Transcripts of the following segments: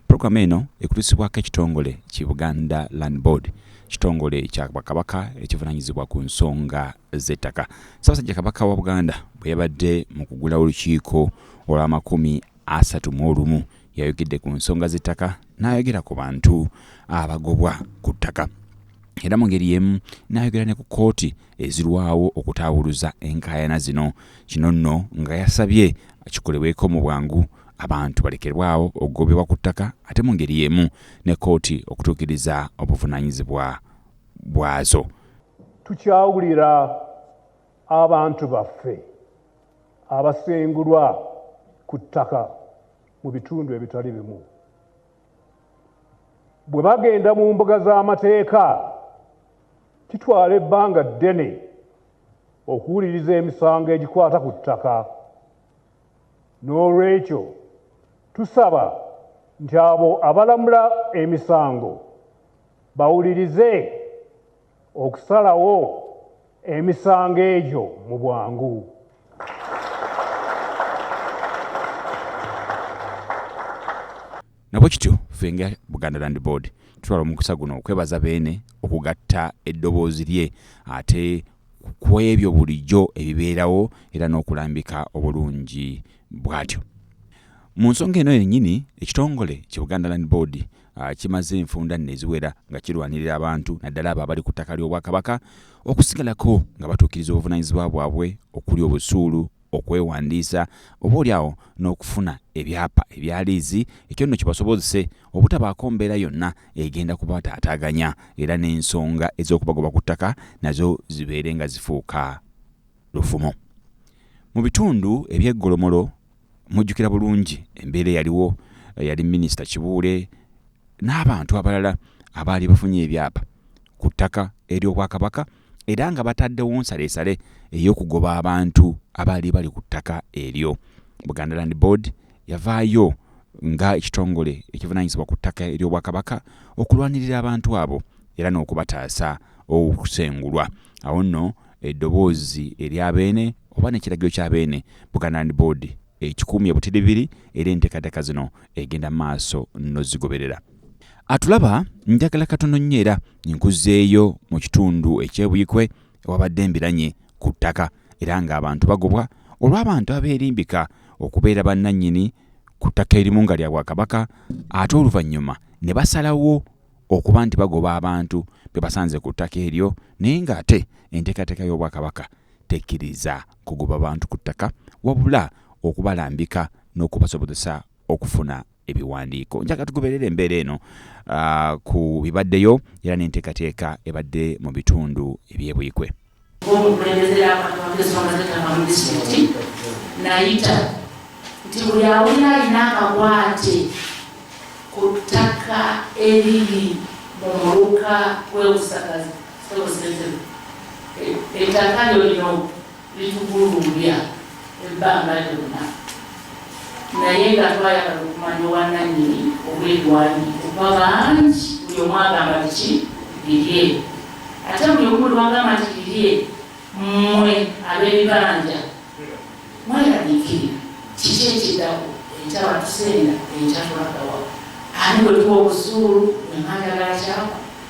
Pulogulaamu eno ekutuusibwako ekitongole ki Buganda Land Board, kitongole kya Bwakabaka ekivunaanyizibwa ku nsonga z'ettaka. Ssaabasajja Kabaka wa Buganda bwe yabadde mu kugulawo olukiiko olw'amakumi asatu mu olumu yayogedde ku nsonga z'ettaka n'ayogera ku bantu abagobwa ku ttaka era mu ngeri y'emu n'ayogera ne ku kkooti ezirwawo okutaawuluza enkaayana zino. Kino nno nga yasabye kikolebweko mu bwangu abantu balekerwawo okugobebwa ku ttaka ate mu ngeri y'emu ne kkooti okutuukiriza obuvunaanyizibwa bwazo tukyawulira abantu baffe abasengulwa ku ttaka mu bitundu ebitali bimu bwe bagenda mu mbuga z'amateeka kitwala ebbanga ddene okuwuliriza emisango egikwata ku ttaka N'olwekyo tusaba nti abo abalamula emisango bawulirize okusalawo emisango egyo mu bwangu. nabwe kityo ffe nga buganda land board tutwala omukisa guno okwebaza beene okugatta eddoboozi lye ate ku ebyo bulijjo ebibeerawo era n'okulambika obulungi bwatyo mu nsonga eno yennyini ekitongole ki buganda land board ah, kimaze enfunda nno eziwera nga kirwanirira abantu naddala abo abali ku ttaka ly'obwakabaka okusigalako nga batuukiriza obuvunanyizibwa bwabwe okuli obusuulu okwewandiisa oba oli awo n'okufuna ebyapa ebya liizi ekyo nno kibasobozese obutabaako mbeera yonna egenda kubataataaganya era n'ensonga ez'okubagoba ku ttaka nazo zibeere nga zifuuka lufumo mu bitundu eby'eggolomolo mujjukira bulungi embeera eyaliwo eh, yali minisita kibuule n'abantu abalala abaali bafunye ebyapa ku ttaka ery'obwakabaka era nga bataddewo nsalesale ey'okugoba abantu abaali bali ku ttaka eryo buganda land board yavaayo nga ekitongole ekivunanyizibwa ku ttaka ery'obwakabaka okulwanirira abantu abo era n'okubataasa okusengulwa awo nno eddoboozi erya beene oba nekiragiro kya beene buganda land board ekikuumye butiribiri era enteekateeka zino egenda maaso nozigoberera atulaba njagala katono nnyo era nkuzeeyo mu kitundu ekyebuyikwe ewabadde embiranye ku ttaka era ng'abantu bagobwa olw'abantu abeerimbika okubeera bannannyini ku ttaka erimu nga lya bwakabaka ate oluvannyuma ne basalawo okuba nti bagoba abantu be basanze ku ttaka eryo naye ng'ate enteekateeka y'obwakabaka tekkiriza kugoba bantu ku ttaka wabula okubalambika n'okubasobozesa okufuna ebiwandiiko njaga tugoberera embeera eno uh, ku bibaddeyo era n'enteekateeka ebadde mu bitundu ebyebuikwe nayita nti buli awulira alina akakwate ku ttaka eriri mu muluka gw'ebusagazi Sebo Ssentebe, e- ettaka lyo lino litugulumbya ebbanga lyonna naye nga twayagala okumanya obwannannyini obw'ebiwandiiko kuba bangi buli omu agamba biki birye ate buli omu lwagamba nti birye mmwe ab'ebibanja mweraliikirira kiki ekiddako enkya batuseera enkya tulagawa ani bwe tuwa obusuulu emanda gakyawa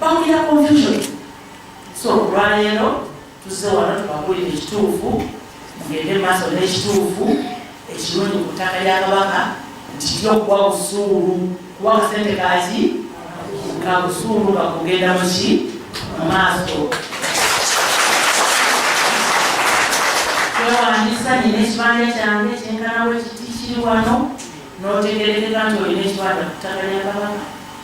Bawulira confusion. So olwaleero tuzze wano tubabuulira ekituufu, mugende maaso n'ekituufu ekirungi ku ttaka lya Kabaka nti kijja okuwa busuulu kuwa kasente kaaki ka busuulu nga kugenda mu ki mu maaso twewandisa nyina ekibanja kyange kyenkanawo ekiti kiri wano n'otegerekeka nti olina ekibanja ku ttaka lya Kabaka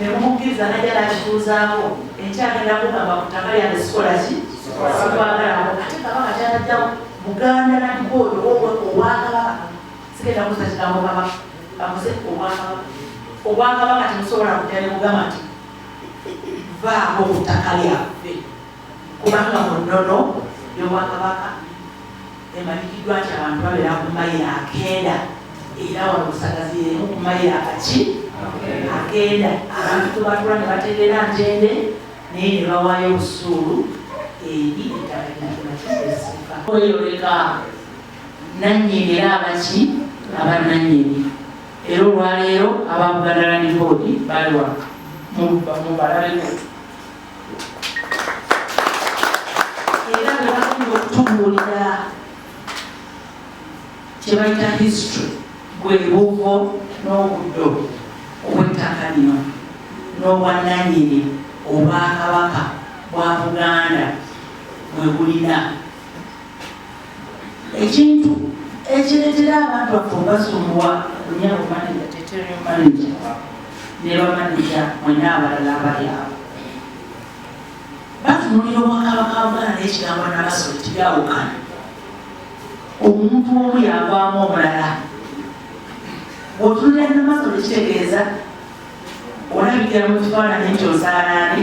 ne mumukkiriza najja nakituuzaako enkya agenda kugamba ku ttaka lyange sikola ki sikwagalako ate kabaka kyanajjawo muganda naliko oyo obwakabaka sigenda kuza kigambo kabaka amuze obwakabaka obwakabaka temusobola kujja ne mugamba nti vaako ku ttaka lyaffe kubanga mu nnono y'obwakabaka Emanyikiddwa nti abantu babeera ku mayiro akenda era wano busagazi yemu ku mayiro akaki akenda abantu tubatula ne bategeera ntende naye ne bawaayo obusuulu eri ettabainakimakiesifa kweyoleka nannyini era abaki abanannyini era olwaleero aba Buganda Land Board baliwa mubalabe era nga bagenda okutubuulira kye bayita history gwe buvo n'obuddo obw'ettaka lino n'obwannanyini obwakabaka bwa buganda bwe bulina ekintu ekireetera abantu baffe obasumbuwa lunyabo manaja teterio manaja ne bamanaja mwena abalala abali abo batunulira obwakabaka bugana n'ekigambo nabasolo tibyawukana omuntu omu yagwamu omulala otunulira namasolo kitegeeza olabikira mu kifaananyi nti osaalaani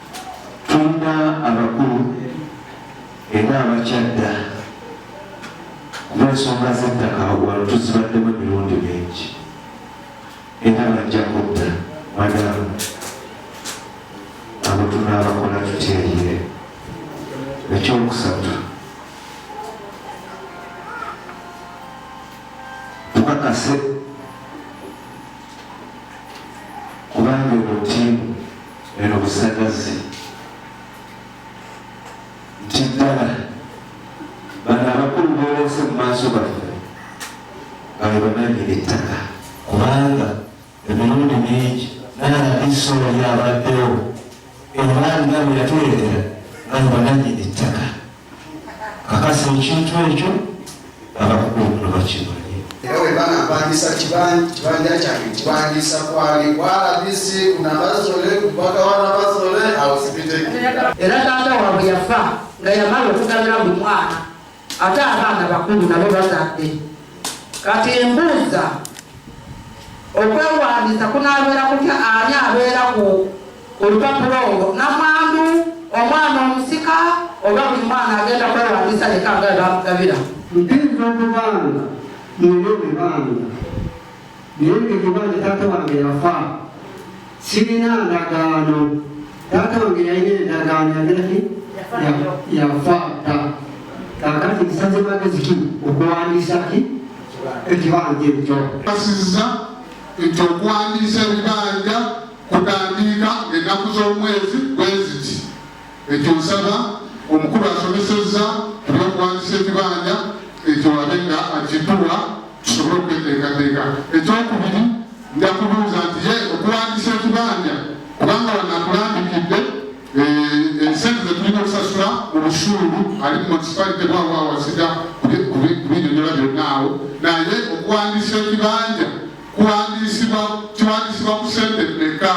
tulina abakulu era abakyadda kuba ensonga z'ettaka wano tuzibaddemu emirundi mingi era bajja kudda madamu abo tunaabakola tutyeyire ekyokusatu tukakase kubanga eno ttiimu Eno busagazi nti ddala bano abakulu boleese mu maaso baffe bali bananyini ettaka kubanga emirundi mingi nalabisola lyabaddewo era nga bwe yatuleetera nga bananyini ettaka kakasa ekintu ekyo abakukuukulo bakimanyi era webana mpangisa kibanja kyange kibangisa kwali kwalabisi kunabazole kubaga wanabazole awusibite era taata wabwe yafa nga yamala okugabira buli mwana ate abaana bakulu nabo bazadde kati embuuza okwewandiisa kunabeera kutya ani abeera ku olupapula olwo namwandu omwana omusika oba buli mwana agenda kwewandisa leka nga bamugabira mpinza okubanga nina ebibanga naye ngekibanja taata wange yafa sirina ndagaano taata wange yalina endagaano yagiraki yafa ta kakati nsaze magezi ki okuwandiisa ki ekibanja ekyo asiza nti okuwandiisa ebibanja kutandiika ennaku z'omwezi bweziti ekyo nsaba omukulu asomesezza ebyokuwandisa ekibanja ekyo wabe nga akituwa tusobole okweteekateeka ekyokubiri nja kubuuza nti ye okuwandisa ekibanja kubanga wanakulambikidde eh, ensente zetulina okusasula mu busuulu ali munisipalite bwawo awasida kubinyonyola byonna awo naye okuwandisa ekibanja kiwandiisibwa ku sente mmeka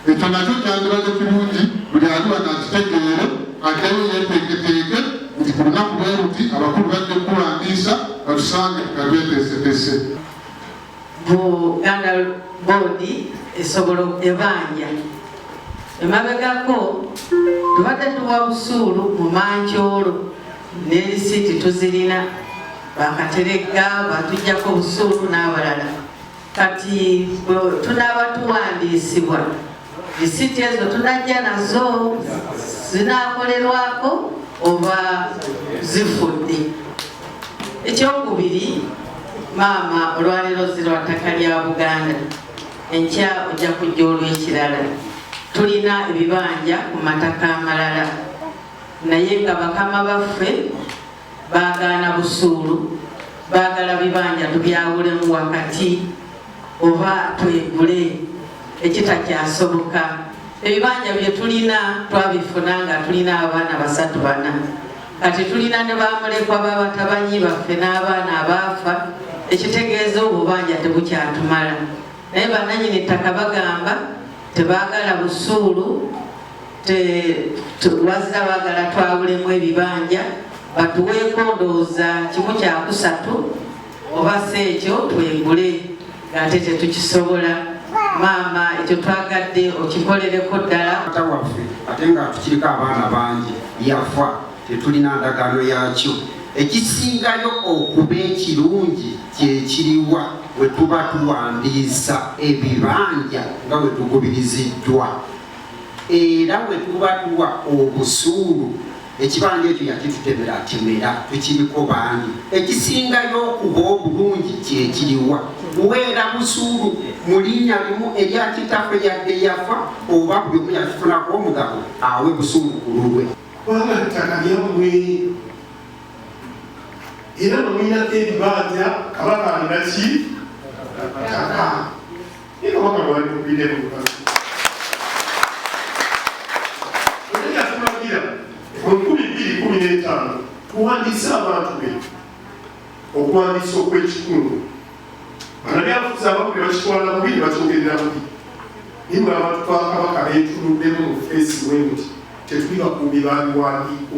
ekyo nakyo kyandibadde kirungi buli ali wano akitegeere ateyo yeteeketeeke nti ku lunaku lweruti abakulu bajja okuwandiisa batusange nga tweteesetese buganda boodi esobola ebanja emabegako tubadde tuwa busuulu mu mankyolo ne lisiiti tuzirina bakateregga batujjako obusuulu n'abalala kati tunaaba tuwandiisibwa lisiiti ezo tunajja nazo zinakolerwako oba zifudde ekyokubiri maama olwaleero zirwa ttaka lya buganda enkya ojja kujja olwekirala tulina ebibanja ku mataka amalala Naye nga bakama baffe baagaana busuulu, baagala bibanja tubyawulemu wakati oba twegule ekitakyasoboka. Ebibanja bye tulina twabifuna nga tulina abaana basatu bana, kati tulina ne bamulekwa babatabanyi baffe n'abaana abaafa, ekitegeeza obubanja tebukyatumala. Naye bannanyini ttaka bagamba tebaagala busuulu. wazira bagala twawulemu ebibanja batuweeko ndowooza kimu kyakusatu oba si ekyo twegule ng'ate tetukisobola maama ekyo twagadde okikolereko ddala ata waffe ate nga tukiriko abaana bangi yafa tetulina ndagaano yakyo ekisingayo okuba ekirungi kyekiriwa wetuba tuwandiisa ebibanja nga wetugubiriziddwa era bwe tuba tuwa obusuulu ekibanja ekyo yakitutemera atemera tukiriko bangi ekisingayo okuba obulungi kyekiriwa weera busuulu mu linnya limu erya kitaffe yadde yafa oba buli omu yakifunako omugabo awe busuulu ku lulwe kubanga ttaka lyammwe era bamwinako ebibanja kabaka alina ki ttaka tuwandiise abantu be okuwandiisa okw'ekikungu banabyafuzi abamu ne bakitwala bubi ne bakyogerera bubi naye nga abantu bakabaka beetunuddemu mu feesi bwe nti tetuli bakuumi babiwandiiko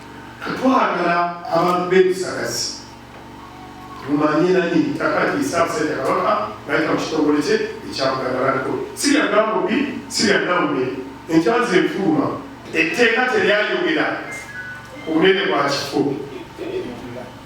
Twagala abantu b'ebisagazi mumanye nani ettaka lyesaamusajja kabaka nayita mu kitongole kye ekya Buganda Land Board. Si lya Gambobbi, si lya Nnawume, enkyanzi efuluma. Etteeka teryayogera ku bunene bwa kifo.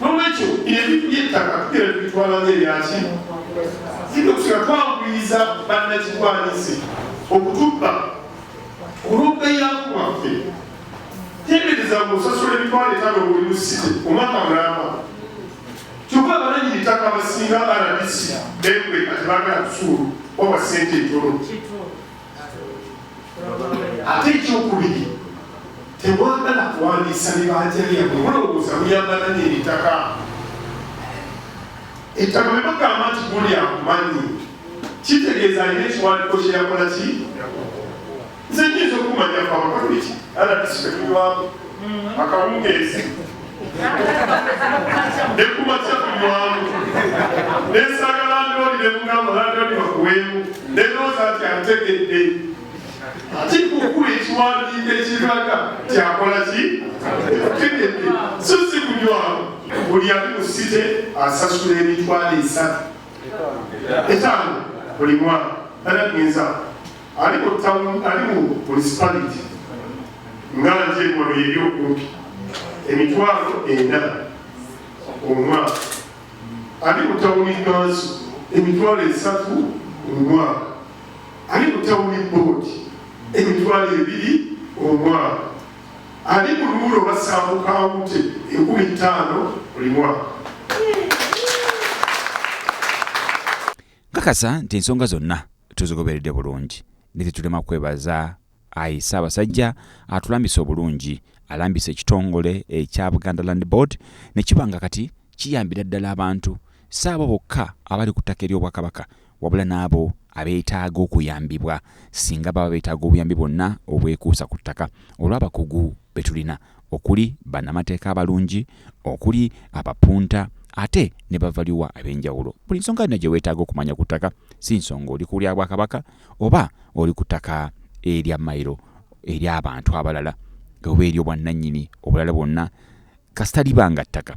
N'olwekyo ebintu by'ettaka tugera tubitwala ng'ebyaki singa kusika twanguyiza bannakigwanyizi okutubba olw'okubeyaku bwaffe tendereza ng'osasula emitwalo etaano buli musite omwaka mulamba kyokka abananyini ttaka abasinga rdc bekweka tebagala kusuulu oba sente ntono ate ekyokubiri temwagala kuwandiisa bibanja byabwe mulowooza muyambala nebitaka ettaka bemugamba nti guli akumanyi kitegeeza alina ekiwandiko kyeyakola ki nze nyinza okumanya kwamakaiki alabisibekulwamu akawungeezi nekumakya kulwamu nesanga landlord nemugamba landlord bakuwemu nenooza nti antegedde ati kukula ekiwandiiko ekiraga kyakola ki tegedde so si kulwamu buli ali mu site asasula emitwalo esatu etaano buli mwaka tanagenza ali mu tauni ali mu munisipaliti nga nje wano yeri okumpi emitwalo ena omwaka ali mu tauni kanso emitwalo esatu omwaka ali mu tauni boodi emitwalo ebiri omwaka ali mu luulo basaamukawute enkumi ttaano buli mwaka Nkakasa nti ensonga zonna tuzigoberedde bulungi ne tetulema kwebaza ayi Ssaabasajja atulambise obulungi alambise ekitongole ekya Buganda Land Board ne kiba nga kati kiyambira ddala abantu si abo bokka abali ku ttaka ery'Obwakabaka wabula n'abo abeetaaga okuyambibwa singa baba beetaaga obuyambi bwonna obwekuusa ku ttaka olw'abakugu be tulina okuli bannamateeka abalungi, okuli abapunta ate ne bavaliwa ab'enjawulo. Buli nsonga yonna gye weetaaga okumanya ku ttaka, si nsonga oli ku lya Bwakabaka oba oli ku ttaka erya mayiro ery'abantu abalala oba ery'obwannannyini obulala bwonna kasita liba nga ttaka,